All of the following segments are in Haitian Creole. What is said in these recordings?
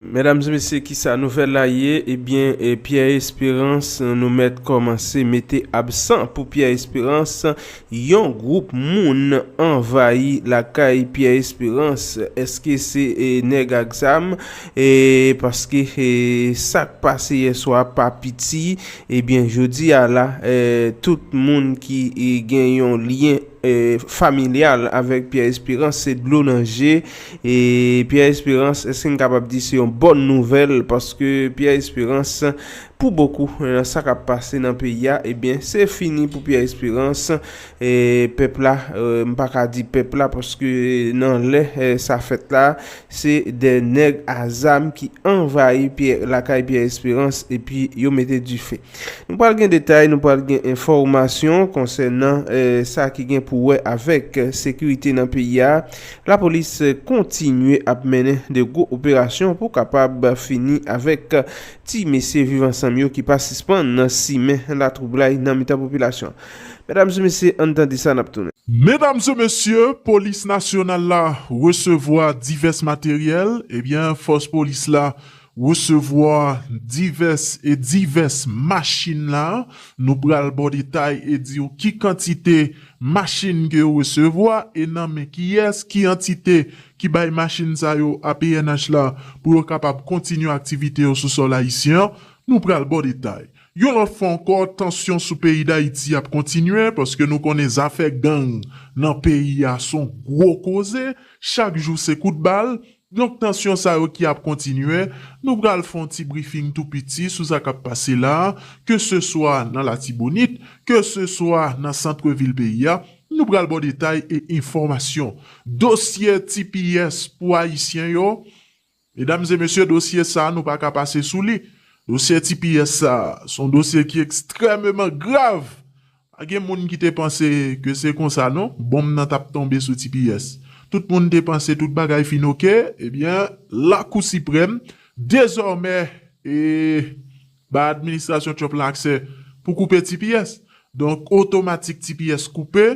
Medam e mesye kisa nouvel la ye ebyen pierre esperance nou met komanse mete absan pou pierre esperance yon group moun anvayi lakay pierre esperance eske se neg ak zam paske sak pase yeswa pa piti ebyen jodi a la tout moun ki gen yon lyen familyal avek pierre esperance se dlo nan je E Pierre Esperance eske n kapab di se yon bòn nouvèl paske Pierre Esperance pou bokou nan sa kap pase nan peyi a ebyen se fini pou Pierre Esperance e pèp la m pa ka di pèp la paske nan lè sa fèt la se de nèg a zam ki anvayi lakay Pierre Esperance epi yo mete dife. Nou pral gen detay nou pral gen enfòmasyon konsènan sa ki gen pou wè avèk sekirite nan peyi a Lapolis kontinye ap mennen de gwo operasyon pou kapab fini avèk ti mesye viv ansanm yo ki pa sispann simen latwoublay nan mitan popilasyon an. Medam se mesye ann tande sa nap tounen. Medam se mesye polis nasyonal la resevwa divès materyèl ebyen fòs polis la Resevwa divès e divès machin la, nou pral ba w detay e di w ki kantite machin ke yo resevwa e nan men kiyès, ki antite ki bay machin sa yo a pnh la pou yo kapab kontinye aktivite yo sou sòl ayisyen an, nou pral ba w detay. Yon lòt fwa ankò, tansyon sou peyi Dayiti ap kontinye paske nou konnen zafè gang nan peyi a son gwo koze, chak jou se kout bal, Donk tansyon sa yo ki ap kontinye, nou pral fè yon ti brifing tou piti sou sa k ap pase la a, ke se swa nan Latibonit, ke se swa nan santre vil peyi a, nou pral ba w detay e enfòmasyon. Dosye tps pou Ayisyen yo, medam e mesye dosye sa a nou pa ka pase sou li. Dosye tps sa a, se yon dosye ki ekstrèmeman grav Pa gen moun ki te panse ke se konsa non bonm nan tap tonbe sou tps. Tout moun te panse tout bagay fin ok, ebyen Lakou Siprèm dezòmè bay administrasyon Trump la aksè pou koupe tps. Donk otomatik tps koupe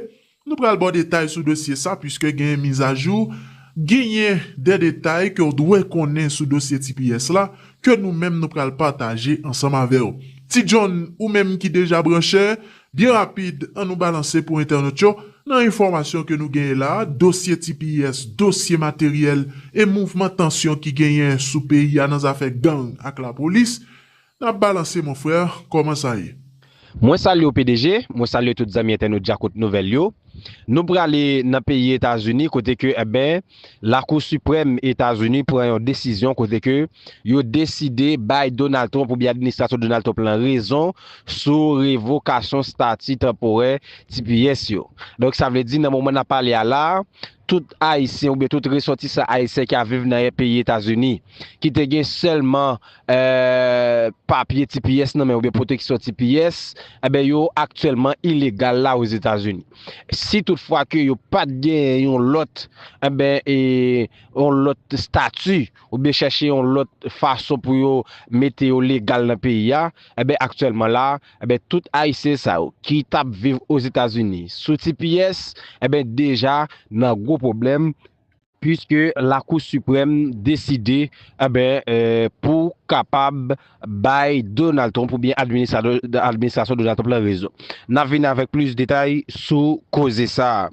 Nou pral ba w detay sou dosye sa puiske genyen mizajou, genyen de detay ke w dwe konnen sou dosye tps la ke nou menm nou pral pataje ansanm avè w. Ti John, ou menm ki deja branche, byen rapid an nou balanse pou entènot yo nan enfòmasyon ke nou genyen la, dosye tps, dosye materyèl e mouvman tansyon ki genyen sou peyi a nan zafè gang ak lapolis. Nap balanse mon frère koman sa ye. Mwen salye w pdg, mwen salye tout zanmi entènot djakout nouvèl yo. Nou prale nan peyi Etazini kote ke enben lakou siprèm Etazini pran yon desizyon kote ke yo deside bay Donald Trump oubyen administrasyon Donald Trump lan rezon sou revokasyon stati tanporè tps yo. Donk sa vle di nan moman nap pale a la a tout ayisyen oubyen tout resòtisan ayisyen ki ap viv nan peyi Etazini ki te gen sèlman papye tps nan men oubyen pwoteksyon tps, enben yo aktyèlman ilegal la Ozetazini. Si tout fwa ke yo pat genyen yon lòt, enben, e, yon lòt stati, oubyen chèche yon lòt fason pou yo mete yo legal nan peyi a, enben, aktyèlman la, enben, tout Ayisyen sa yo ki tap viv Ozetazini sou tps, enben, deja nan gwo pwoblèm, Puiske Lakou Siprèm deside pou kapab bay Donald Trump oubyen administrasyon Donald Trump lan rezon. N ap vini avèk plis detay sou koze sa a.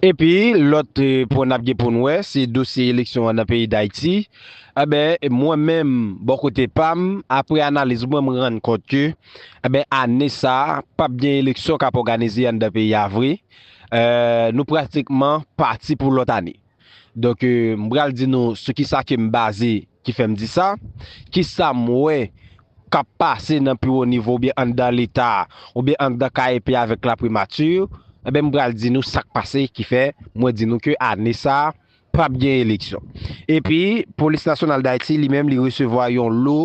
Epi lòt pwen n ap gen pou n wè se dosye eleksyon an nan peyi Dayiti. Mwen menm bò kote pa m, apre analiz mwen, m rann kont ke ane sa a p ap gen eleksyon k ap òganize anndan peyi a vre. nou pratikman pati pou lòt ane. Donk m pral di nou sou ki sa ke m baze ki fè m di sa, ki sa m wè k ap pase nan pi wo nivo oubyen anndan Leta oubyen anndan KEP avèk Laprimati, enben m pral di nou sa k pase ki fè mwen di nou ke ane sa Pap gen eleksyon. Epi, Polis Nasyonal Dayiti, li menm, li resevwa yon lo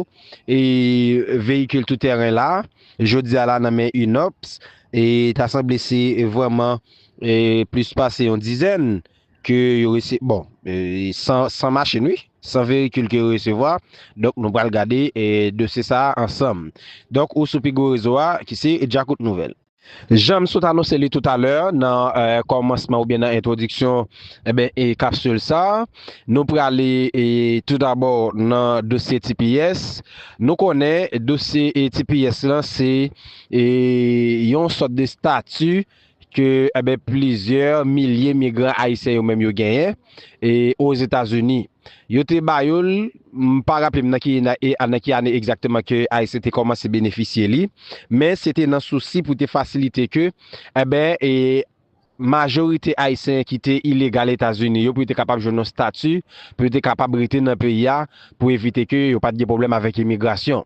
veyikil tou tèren la, jodi a la nan men UNOPS. E ta sanble se vrèman plis pase yon dizèn ke yo rese, bon, 100 machin wi, 100 veyikil ke yo resevwa. Donk, nou pral gade dosye sa a ansanm. Donk, ou sou pi gwo rezo a ki se Djakout Nouvèl. Janm sot anonse li toutalè nan kòmansman oubyen nan entwodiksyon kapsil sa, nou prale toudabò nan dosye tps. Nou konnen dosye tps la se yon sòt de stati ke plizyè milye migran ayisyen yo menm yo genyen Ozetazini. Yo te ba yo l, m pa raple m nan ki nan ki ane egzakteman ke Ayisyen te kòmanse benefisye li, men se te nan sousi pou te fasilite ke enben majorite Ayisyen ki te ilegal Etazini yo pou yo te kapab jwenn yon stati pou yo te kapab rete nan peyi a pou evite ke yo pa t gen pwoblèm avèk imigrasyon.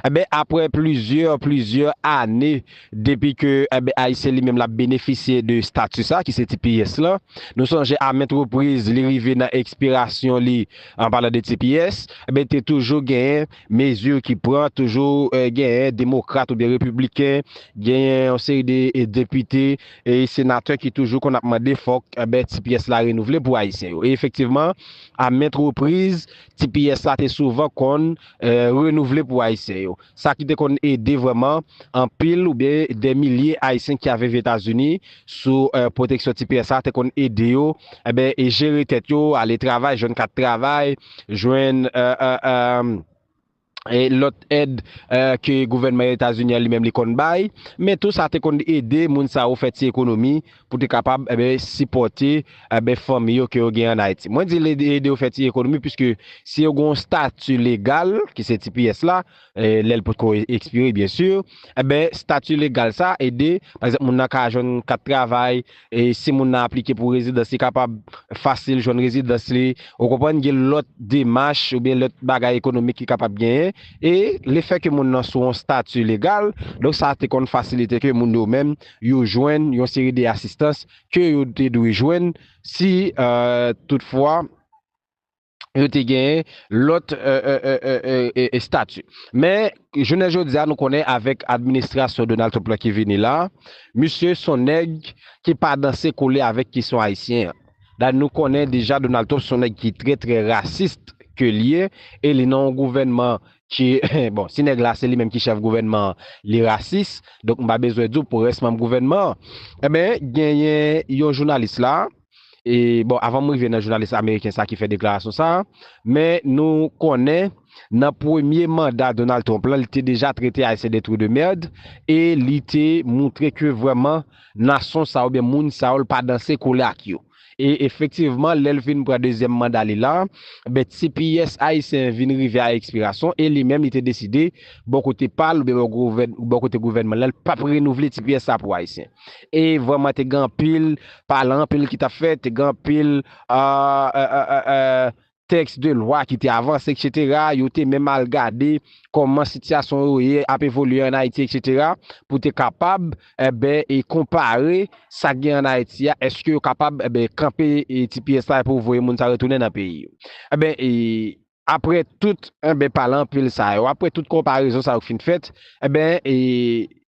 Enben, apre plizyè, plizyè ane depi ke, enben, Ayisyen li menm l ap benefisye de stati sa a ki se tps lan, nou sonje a ment repriz li rive nan ekspirasyon li, an palan de tps, enben te toujou genyen mezi ki pran, toujou genyen demokrat oubyen repibliken, genyen yon seri de depite e senatè ki toujou konn ap mande fòk, enben, tps la renouvle pou Ayisyen yo. E efektivman, a ment repriz, tps la te souvan konn. renouvle pou Ayisyen yo. Sa ki te konn ede vrèman anpil oubyen dè milye Ayisyen ki ave viv Etazini sou pwoteksyon tps sa te konn ede yo jere tèt yo, ale travay, jwenn kat travay, jwenn lòt èd ke gouvènman Etazini an li menm li konn bay. Men tou sa te konn ede moun sa yo fè ti ekonomi pou te kapab sipòte fanmi yo ke yo gen an Ayiti. Mwen di l ede yo fè ti ekonomi piske si yo gen yon stati legal, ki se tps la, lè l potko ekspire byen si, enben stati legal sa ede, pa egzanp moun nan ka jwenn kat travay, si moun nan aplike pou rezidans li kapab fasil jwenn rezidans li, ou konprann, gen lòt demach oubyen lòt bagay ekonomik ki kapab genyen e lefè ke moun nan sou yon stati legal, donk sa te konn fasilite ke moun yo menm yo jwenn yon seri de asistans ke yo te dwe jwenn si tout fwa yo te gen lòt estati. Men, jounen jodi a nou konnen avèk administrasyon Donald Trump la ki vini la, misye son nèg ki pa danse kole avèk kesyon ayisyen an. Dayè nou konnen deja Donald Trump son nèg ki trè trè rasist ke li ye e li nan yon gouvènman Ki bon si nèg la se li menm ki chèf gouvènman an li rasis donk m pa bezwen di w pou rès manm gouvènman an enben genyen yon jounalis la e bon avan m rive nan jounalis ameriken sa ki fè deklarasyon sa men nou konnen nan premye manda Donald Trump lan li te deja trete ayisyen de trou de mèrd e li te moutre ke vrèman nason sa yo oubyen moun sa yo l pa danse kole ak yo. E efektivman, lè l fin pran dezyèm manda li la, ben ti pyès Ayisyen vin rive a ekspirasyon e li menm li te deside, bò kote pa l oubyen bò kote gouvènman l lan, l pa p renouvle ti pyès sa pou Ayisyen. E vrèman te gen anpil pale, anpil ki t ap fèt, te gen anpil tèks de lwa ki te avanse eksetera, yo te menm al gade kòman sitiyasyon yo ye, ap evolye an Ayiti eksetera, pou te kapab, enben, e konpare sa k gen an Ayiti a, èske yo kapab, enben, kanpe tps la pou voye moun sa yo retounen nan peyi yo. Enben, e, apre tout, enben, pale anpil sa yo, apre tout konparezon sa yo k fin fèt, enben, e,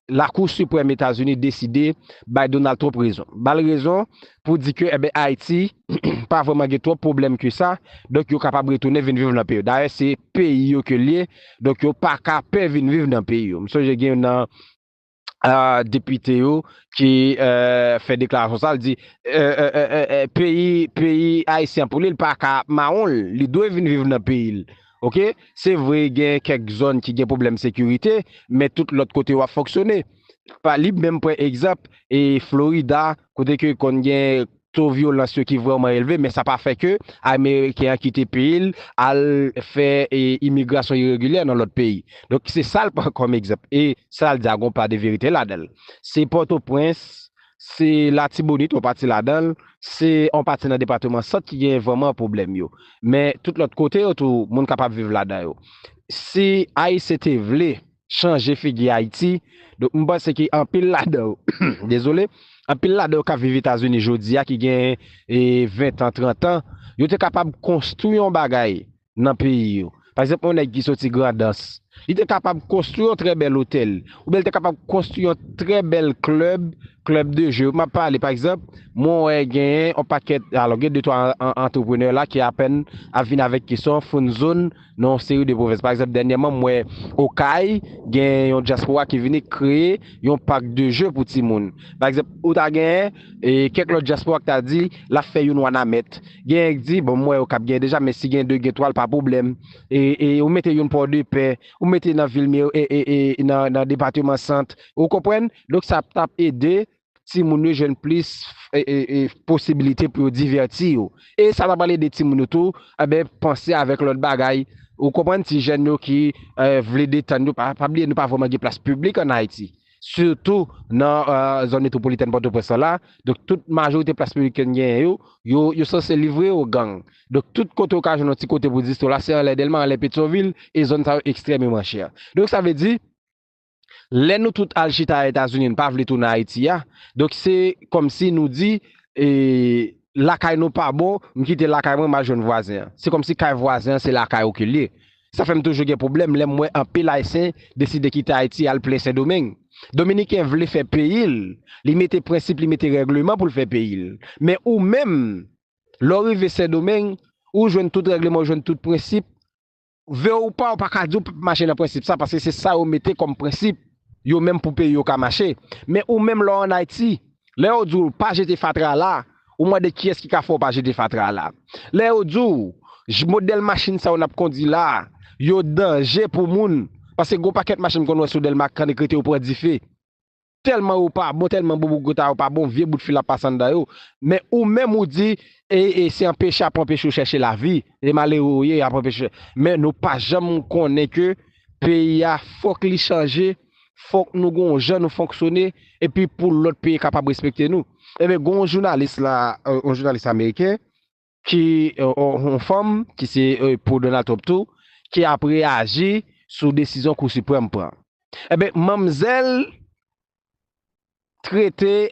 Lakou Siprèm Etazini deside bay Donald Trump rezon. Ba l rezon pou di ke enben Ayiti pa vrèman gen twòp pwoblèm ke sa, donk yo kapab retounen vin viv nan peyi yo. Dayè se peyi yo ke l ye, donk yo pa ka pè vin viv nan peyi yo. M sonje gen youn nan depite yo ki fè deklarasyon sa, l di peyi Ayisyen an pou li, li pa ka ap mawon l, li dwe vin viv nan peyi l. Ok se vre gen kèk zòn ki gen pwoblèm sekirite men tout lòt kote yo ap fonksyone. Pa li menm pran egzanp e Florida kote ke konn gen to vyolans yo ki vrèman elve men sa pa fè ke ameriken an kite peyi l al fè imigrasyon iregilè nan lòt peyi. Donk se sa l pran kòm egzanp e sa l di a gon pa de verite ladan l. Se Pòtoprens Se Latibonit, yon pati ladan l, se yon pati nan depatman Sant ki genyen vrèman pwoblèm yo. Men, tout lòt kote yo tou, moun kapab viv ladan yo. Si Ayisyen te vle chanje figi Ayiti, donk m panse ke anpil ladan yo, dezole, anpil ladan yo k ap viv Etazini jodi a ki gen ventan, trantan, yo te kapab konstwi yon bagay nan peyi yo. Pa egzanp, yon nèg ki soti Grandans, li te kapab konstwi yon trè bèl otèl, oubyen li te kapab konstwi yon trè bèl klèb, klèb de je. M ap pale, pa egzanp, mwen wè genyen yon pakèt, alò gen de twa antreprenè la ki apèn ap vin avèk kesyon fon zòn nan yon seri de pwovens. Pa egzanp, dènyèman m wè Okay, gen yon dyaspora ki vini kreye yon pak de je pou timoun. Pa egzanp, ou ta gen. E kèk lòt dyaspora k ta di, l ap fè youn Wanament. Genyen k di, bon m wè yo k ap genyen deja men si gen de gen twa l pa pwoblèm. E e ou mete youn Pòdepè, ou mete nan vil Meri e e e nan nan depateman Sant. Ou konprann? Donk sa ap t ap ede timoun yo jwenn plis e e e posibilite pou yo divèti yo. E sa ta pral ede timoun yo tou anben panse avèk lòt bagay. Ou konprann? Ti jèn yo ki e vle detann yo pa pa bliye nou pa vrèman gen plas piblik ann Ayiti. Sitou nan zòn metwopolitèn Pòtoprens lan la, donk tout majorite plas piblik ke n genyen yo, yo sanse livre yo gang. Donk tout kote ou ka jwenn yon ti kote pou distri w la, se anlè Dèlma, anlè Petyonvil, e zòn sa yo ekstrèmeman chè. Donk sa vle di, lè nou tout al chita Etazini, n pa vle tounen Ayiti a, donk se kòmsi nou di, lakay nou pa bon, m kite lakay mwen, m al jwenn vwazen an. Se kòmsi kay vwazen an se lakay ou ke l ye. Sa fè m toujou gen pwoblèm lè m wè anpil Ayisyen deside kite Ayiti al plen Sendomeng. Dominiken vle fè peyi l, li mete prensip, li mete règleman pou l fè peyi l. Men ou menm, lè w rive Sendomeng, ou jwenn tout règleman, ou jwenn tout prensip. Vle w ou pa, ou pa ka di w p ap mache nan prensip sa, paske se sa yo mete kòm prensip. yo menm pou peyi yo ka mache, men ou menm lè w an Ayiti, lè yo di w pa jete fatra la, ou mande kiyès ki ka fè w pa jete fatra la. Lè yo di w modèl machin sa yo n ap kondi la, yo danje pou moun, paske gen yon pakèt machin m konn wè sou Dèlma kannik rete yo pran dife, tèlman yo pa bon, tèlman bobogota yo pa bon, vye bout fil ap pase anndan yo, men ou menm ou di e se anpeche ap anpeche w chèche lavi. E malere ou ye yap anpeche. Men nou pa janm konnen ke peyi a fok li chanje, fok nou gon yon jan nou fonksyone epi pou lot peyi kapab respekte nou. Enben gon yon jounalis la, yon jounalis ameriken ki yon fanm ki se pou Donald Trump tou ki ap reyaji sou desizyon kou siprèm pran. Enben manmzèl trete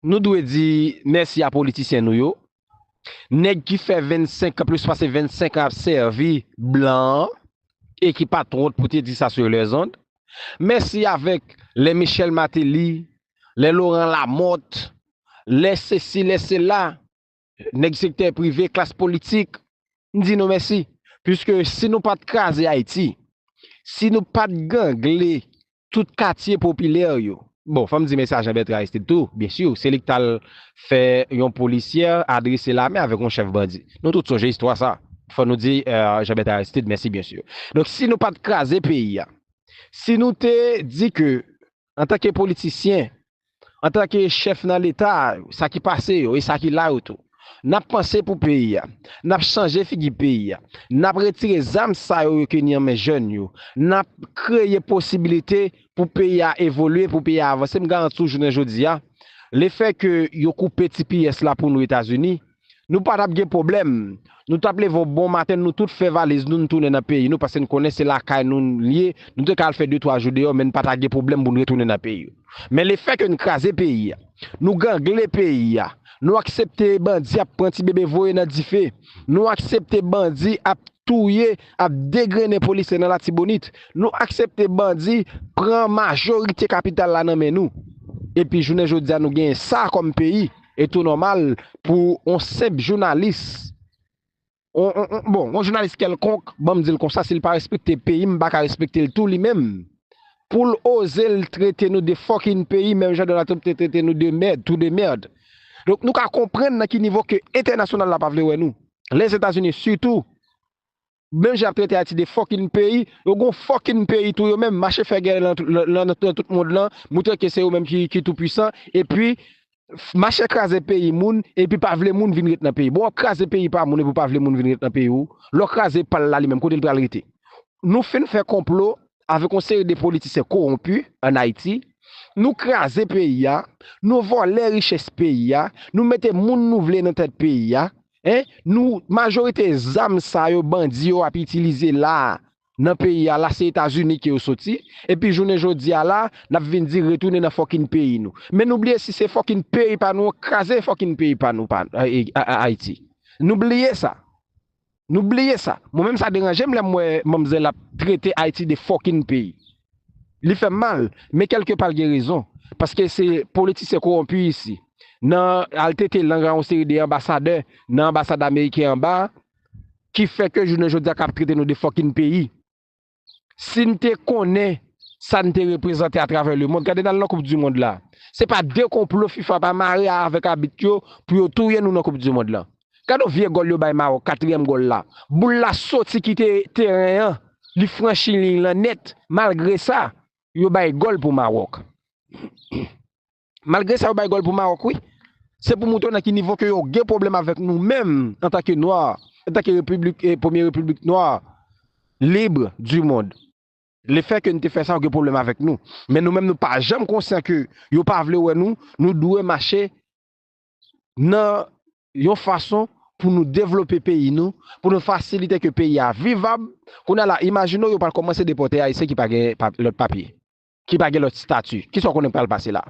Nou dwe di mèsi a politisyen nou yo, nèg ki fè 25 plis pase 25 an ap sèvi blan an e ki pat wont pou te di sa sur les ondes. Mèsi avèk lè Michel Martelly, lè Laurent Lamothe, lè sesi lè sela, nèg sektè prive, klas politik, m di nou mèsi. Puiske si nou pat kraze Ayiti, si nou pat gangle tout katye popilè yo. Bon, fò m di men Sajan Bètran Aristid tou, byen si, se li ki t al fè yon polisyè adrese lamen avèk yon chèf bandi. Nou tout sonje istwa sa a. Fò nou di Jan Bètran Aristid mèsi byen si. Donk si nou pa t kraze peyi a, si nou te di ke antanke politisyen Antanke chèf nan Leta a yo, sa ki pase yo e sa ki la yo tou, n ap panse pou peyi a, n ap chanje figi peyi a, n ap retire zam sa yo yo keni an men jèn yo, n ap kreye posibilite pou peyi a evolye, pou peyi a avanse. M garanti w jounen jodi a, lefè ke yo koupe tps la pou nou Etazini, Nou pa tap gen pwoblèm. Nou tap leve yon bon maten nou tout fè valiz nou n tounen nan peyi nou paske n konnen se lakay nou n ye, nou te ka al fè de twa jou deyò men n pa ta gen pwoblèm pou n retounen nan peyi nou. Men lefè ke n kraze peyi a, nou gangle peyi a, nou aksepte bandi ap pran ti bebe voye nan dife, nou aksepte bandi ap touye, ap degrennen polisye nan Latibonit, nou aksepte bandi pran majorite kapital la nan men nou epi jounen jodi a nou genyen sa kòm peyi, E tou nòmal pou yon senp jounalis, bon, yon jounalis kèlkonk, ban m di l konsa, si l pa respekte peyi m, m pa ka respekte l tou li menm, pou l oze l trete nou de fòkinn peyi menm jan Donald Trump te trete nou de mèd, trou de merde. Donk nou ka konprann nan ki nivo ke entènasyonal la pa vle wè nou. Lèzetazini sitou. Menm jan yap trete ayiti de fucking peyi, yo gon fucking peyi tou yo menm, mache fè gè nan tout mond lan, moutre ke se yo menm ki tou pwisan, epi mache kraze peyi moun epi pa vle moun vin ret nan peyi, bon wap kraze peyi pa moun epi ou pa vle moun vin ret nan peyi ou, lè w kraze pal la li menm kote l pral rete? Nou fin fè konplo avèk yon seri de politisyen kowonpi an ayiti, nou kraze peyi a, nou vòlè richès peyi a, nou mete moun nou vle nan tèt peyi a, Hein nou majorite zam sa yo bandi yo ap itilize la nan peyi a la se etazini ke yo soti epi jounen jodi a la nap vin di retounen nan fòkin peyi nou men nou bliye si se fòkin peyi pa nou kraze fòkin peyi pa nou pa ayiti nou bliye sa nou bliye sa mwen menm sa deranjem lèm wè manmzèl ap trete ayiti de fòkin peyi. Li fèm mal, men kèlke pa l gen rezon, paske se politisyen kowonpi isi, nan al tete lang a yon seri de anbasadè nan anbasad ameriken anba a, ki fè ke jounen jodi a kap trete nou de fòkin peyi. Si n te konnen sa n te reprezante atravè lemond, gade n al nan koup di mond la, se pa de konplo fifa pa mare avèk abit yo pou yo touye nou nan koup di mond lan. Gadon vye gòl yo bay Mawòk katriyèm gòl la boul la soti kite teren an li franchi liy lan nèt malgre sa yo bay gòl pou Mawòk malgre sa yo bay gòl pou Mawòk wi se pou moutre w nan ki nivo ke yo gen pwoblèm avèk nou menm antanke nwa antanke repiblik premye repiblik nwa lib di mond le fè ke nou te fè sa yo gen pwoblèm avèk nou men nou menm nou pa janm konsyan ke yo pa vle wè nou nou dwe mache nan yon fason pou nou devlope peyi nou, pou nou fasilite ke peyi a vivab, kounye a la imajine w yo pral kòmanse depòte Ayisyen ki pa gen lòt papye, ki pa gen lòt stati, kisa w konnen ki pral pase la?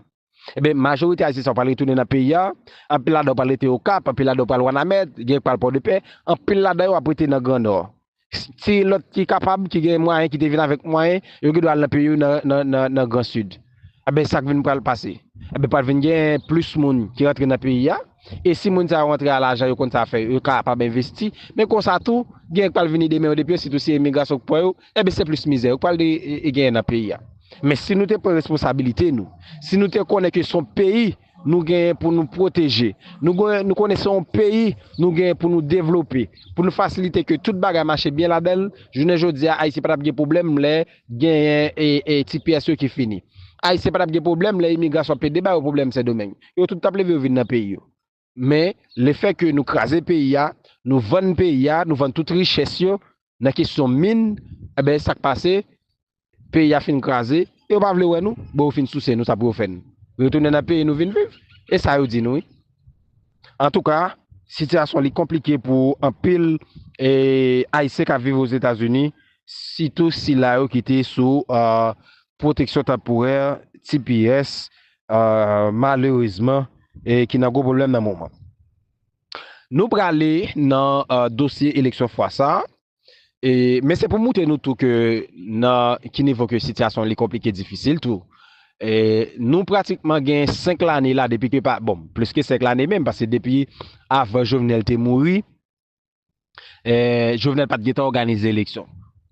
Enben, majorite Ayisyen sa yo pral retounen nan peyi a, anpil ladan yo pral rete Okap, anpil ladan yo pral Wanament, gen ki pral Pòdepè, anpil ladan yo ap rete nan Gran Nò. Si lòt ki kapab, ki gen mwayen, ki te vin avèk mwayen, yo gen dwa al nan peyi yo nan gran sid. Enben sa k vin pral pase? Enben pral vin gen plis moun ki rantre nan peyi a, e si moun sa yo rantre a lajan yo konn sa fè, yo kapab envesti, men konsa tou gen k pral vini demen yo depi yo sitou se emigrasyon k pran yo, enben se plis mizè yo k pral genyen nan peyi a. Men si nou te pran responsabilite nou, si nou te konnen ke son peyi, nou genyen pou nou pwoteje, nou konnen se yon peyi nou genyen pou nou devlope, pou nou fasilite ke tout bagay mache byen ladan l, jounen jodi a Ayisyen pa t ap gen pwoblèm lè genyen ti pyès yo ki fini. Ayisyen pa t ap gen pwoblèm lè imigrasyon ap pede ba yo pwoblèm Sendomeng. Yo tout t ap leve yo vin nan peyi yo. Men, lefèke nou kraze peyi a, nou vann peyi a, nou vann tout richès yo, nan kesyon min enben sak pase peyi a fin kraze yo pa vle wè nou bon yo fin souse nou sa pou yo fè n retounen nan peyi nou vin viv e sa yo di nou wi antouka sitiyasyon li konplike pou anpil ayisyen kap viv ozetazini sitou sila yo ki te sou pwoteksyon tanporè tps malerezman ki nan gwo pwoblèm nan moman. Nou prale nan dosye eleksyon fwa sa a, men se pou moutre nou tou ke nan ki nivo ke sityasyon li konplike difisil tou. Nou pratikman gen 5 lane la depi ke pa, bon, plis ke 5 lane menm, paske depi avan Jovenel te mouri, Jovenel pat gentan òganize eleksyon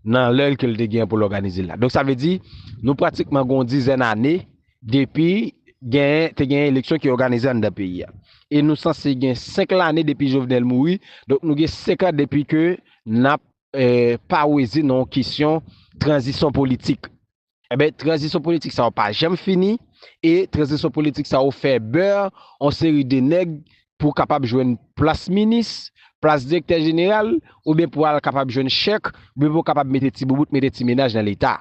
nan lè l ke l te genyen pou l òganize l la. Donk sa vle di, nou pratikman gen yon dizèn ane depi genyen te genyen eleksyon ki òganize anndan peyi a. E nou sanse gen 5 lane depi Jovenel mouri, donk nou gen 5 an depi ke n ap paweze nan yon kesyon tranzisyon politik. Enben, tranzisyon politik sa yo pa janm fini, e tranzisyon politik sa yo fè beur on seri de nèg pou kapab jwenn plas minis, plas direktè jeneral, oubyen pou al kapab jwenn chèk, oubyen pou kapab mete ti boubout, mete ti mennaj nan leta.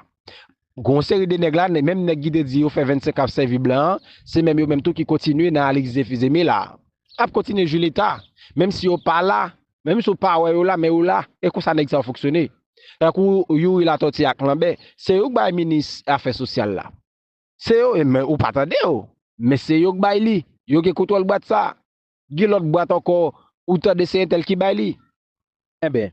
Gen on seri de nèg la, menm nèg ki te di yo fè 25 an ap sèvi blan an, se menm yo menm tou ki kontinye nan Alix Zephyr Zeme la a. Ap kontinye jwi leta, menm si yo pa la Menm si w pa wè yo la men yo la, e konsa nèg sa yo fonksyone. Tankou Youri Latòti ak Lanbè, se yo k bay minis afè sosyal la. Se yo, men ou pa tande yo. Men se yo k bay li, yo gen kontwòl bwat sa. Gen lòt bwat ankò ou tande se entèl ki bay li. Enben,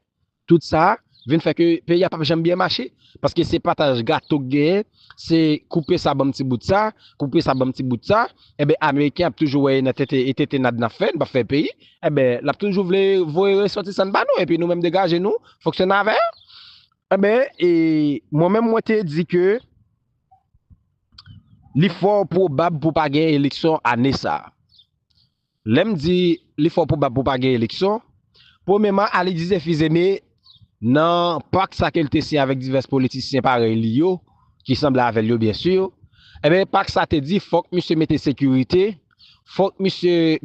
tout sa vin fè ke peyi a p ap janm byen mache. Paske se pataj gato k genyen, se koupe sa ban m ti bout sa, koupe sa ban m ti bout sa. Enben ameriken ap toujou wè e nan tete e tete nad nan fè n pap fè peyi enben lap toujou vle voye resòtisan n ba nou epi nou menm degaje nou fonksyone avè yo enben e mwen menm mwen te di ke li fò pwobab pou pa gen eleksyon ane sa lèm di li fò pwobab pou pa gen eleksyon premyeman ali di se fizeme Nan pak sa ke l te siyen avèk divès politisyen parèy li yo, ki sanble avè l yo byen sur, enben pak sa te di fòk misye mete sekirite, fòk misye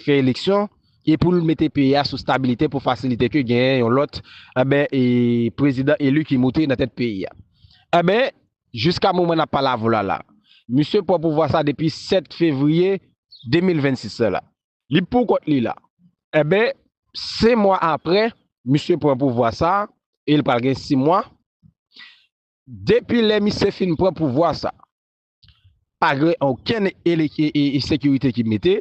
fè eleksyon e pou l mete peyi a sou stabilite pou fasilite ke genyen yon lòt enben prezidan eli ki moute nan tèt peyi a. Enben, jiska moman n ap pale avè w la la, misye pran pouvwa sa depi 7 fevriye 2026 la la. Li pou kont li la. Enben, 5 mwa apre, misye pran pouvwa sa a, e li pral gen 6 mwa. Depi lè misye fin pran pouvwa sa a, pa gen okenn sekirite ki mete,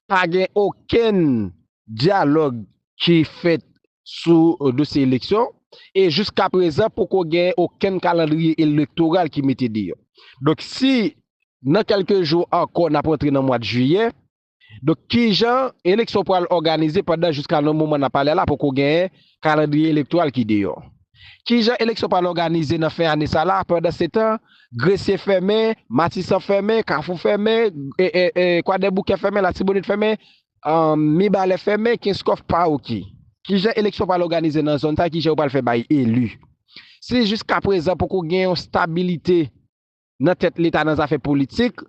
pa gen okenn dyalòg ki fèt sou dosye eleksyon, e jiskaprezan poko gen okenn kalandriye elektoral ki mete deyò. Donk si nan kelke jou anko nap rantre nan mwad jiyè, donk kijan eleksyon pwal òganize pandan jiska nan moman nap pale la poko gen kalandriye elektwal ki deyò? Kijan eleksyon pwal òganize nan fen ane sa la pandan setan Gresye fèmen, Matisan fèmen, Kafou fèmen, Kwadèboukè fèmen, Latibonit fèmen, Mibalè fèmen, Kenskòf pa ok. Kijan eleksyon pwal òganize nan zòn sa kijan yo pwal fè bay eli? Si jiska prezan poko gen yon stabilite nan tèt leta nan zafè politik,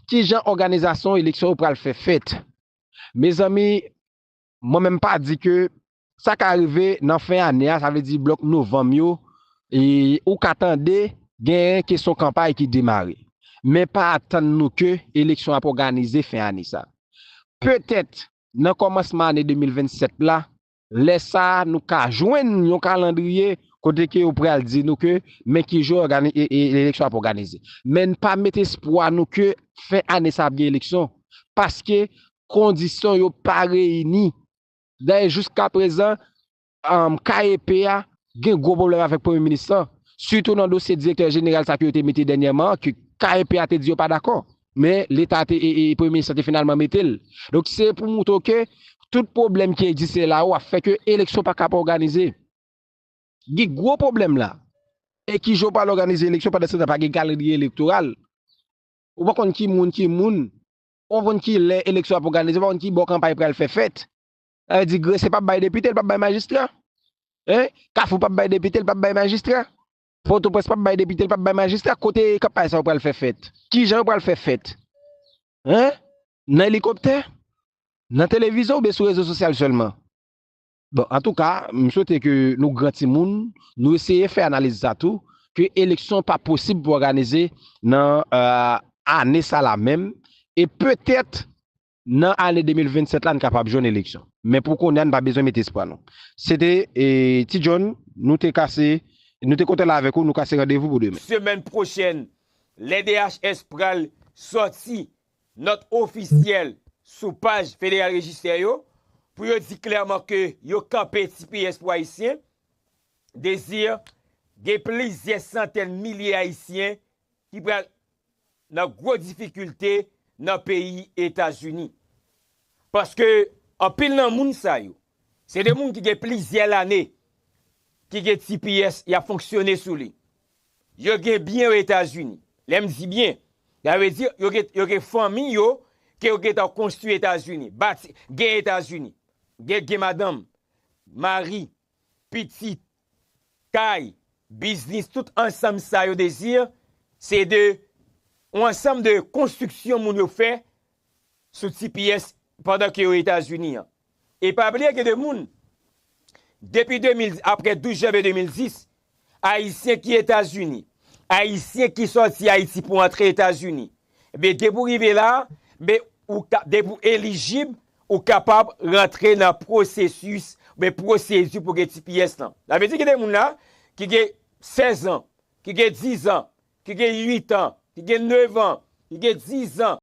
ki jan òganizasyon eleksyon yo pral fè fèt? Mezanmi, mwen menm pa di ke sa ka rive nan fen ane a, sa vle di blòk novanm yo, ou ka tande gen kesyon kanpay ki demare. Men pa atann nou ke eleksyon ap òganize fen ane sa. Petèt nan kòmansman ane 2027 la, Lè sa nou ka jwenn yon kalandriye kote ke yo pral di nou ke men ki jou eleksyon ap òganize. Men n pa met espwa nou ke fen ane sa ap gen eleksyon paske kondisyon yo pa reyini. Dayè jiska prezan KEP a gen gwo pwoblèm avèk premye minis lan sitou nan dosye direktè jeneral sa ke yo te mete dènyèman an ke KEP a te di yo pa dakò. Men leta te e premye minis la te finalman mete l. Donk se pou moutre w ke tout pwoblèm ki egziste la ou a fè ke eleksyon pa kab òganize. Gen gwo pwoblèm la. E ki jan ou pral òganize eleksyon pandan se tan pa gen kalandriye elektoral. Ou pa konn ki moun ki moun. Ou pa konn ki lè eleksyon ap òganize. Ou pa konn ki bò kanpay pral fè fèt. Sa vle di Gresye pap bay depite, li pap bay majistra. Hein? Kafou pap bay depite, li pap bay majistra. Pòtoprens pap bay depite, li pap bay majistra, kote kanpay sa yo pral fè fèt? Kijan yo pral fè fèt? Hein? Nan elikoptè? Nan televizyon oubyen sou rezo sosyal sèlman? Bon, antouka, m swete ke nou gran timoun, nou eseye fè analiz sa tou, ke eleksyon pa posib pou òganize nan ane sa la menm, e petèt Nan ane 2027 la n kapab jwenn eleksyon. Men pou kounye a n pa bezwen mete espwa nou. Se te Ti John, nou te kase, nou te kontan la avèk ou, nou kase randevou pou demen. Semèn pwochèn, lè DHS pral sòti nòt ofisyèl sou paj Federal Register yo, pou yo di klèman ke yo kanpe tps pou Ayisyen, Desir, gen plizyè santèn milye Ayisyen ki pral nan gwo difikilte nan peyi Etazini. Paske anpil nan moun sa yo, se de moun ki gen plizyè lane ki gen tps y ap fonksyone sou li. Yo gen byen o Etazini. Lè m di byen, sa vle di yo gen fanmi yo ke yo gentan konstwi Etazini, bati, gen Etazini. Gen madanm, mari. pitit, kay, biznis tout ansanm sa yo dezi se de yon ansanm de konstriksyon moun yo fè sou ti pyès pandan ke yo Etazini an. E pa bliye gen de moun depi 2000 aprè 12 janvye 2010 Ayisyen ki Etazini, Ayisyen ki sòti Ayiti pou antre Etazini, enben depi ou rive la, enben ou ka, depi ou elijib, ou kapab rantre nan pwosesis, enben pwosedi pou gen tps lan. Sa vle di gen de moun la ki gen 16 an, ki gen 10 an, ki gen 8 an, ki gen 9 an, ki gen 10 an,